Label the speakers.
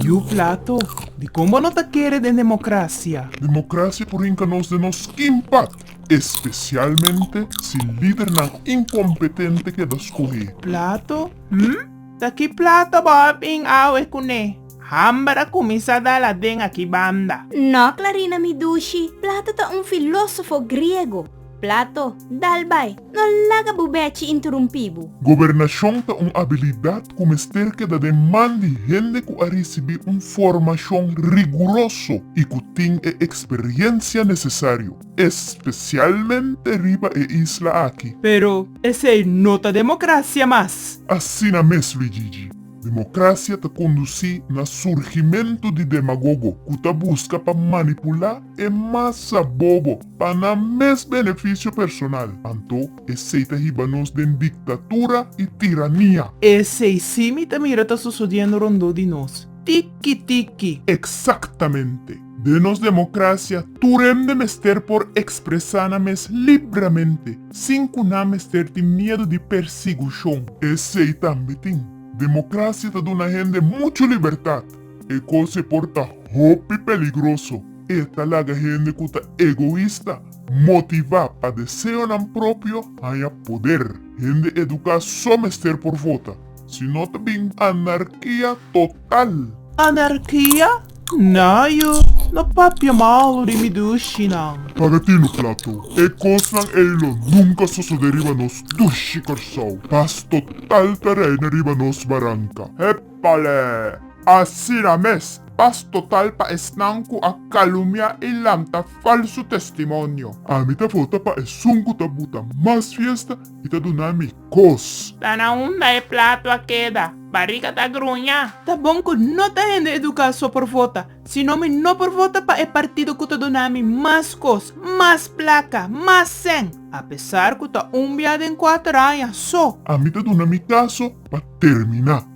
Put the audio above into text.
Speaker 1: Yu Plato, dikon bo no ta kere den demokrasia? Demokrasia por hinka nos den nos kimpat, espesialmente si lidernan inkompetente keda skohé. Plato, Hm? Ta ki plata bo a bin awe kuné? Hamber a kuminsá dal aden aki banda. No, Clarina mi dushi, Plato ta un filósofo griego. Plato, dal bai, no laga bu bèchi interumpí bu. Gobernashon ta un abilidat ku mester keda den man di hende ku a risibí un formashon riguroso i ku tin e eksperiensia nesesario, espesialmente riba e isla aki. Pero esei no ta demokrasia mas. Asina mes, Luigigi. Democracia ta conduci na surgimento di demagogo cu ta busca pa manipula e masa bobo pa nan mes beneficio personal. Anto esey ta hiba nos den dictatura y tirania. Esey si mi ta mira ta sosodiendo rondó di nos. Tiki tiki! Exactamente. Den nos democracia, tur hende mester por expresa nan mes libremente, sin cu nan mester tin miedu di persigucion. Esey tambe tin, democracia ta duna hende muchu libertad. E cos'e por ta hopi peligroso. E ta laga hende cu ta egoista, motiva pa deseonan propio, haya poder. Hende educa so mester por vota. Si no ta bin anarkia total. Anarkia? Nah yu no papia malu di mi dushinan. Paga tin lo plato. E kosnan ey lo nunka sosode riba nos dushi Kòrsou. Pas total ta reina riba nos baranka. Epale! Asina mes, pas total pa esnan ku a kalumia i lanta falsu testimonio. Ami ta vota pa esun ku ta buta mas fiesta i ta duna mi. kos. Ta na unda e plato a keda, bariga ta gruña. Ta bon ku no ta hende eduká so por vota, sino mi no por vota pa e partido ku ta duna mi mas kos, mas plaka, mas sèn, apesar ku ta un bia den kuater aña so. Ami ta duna mi kaso pa terminá.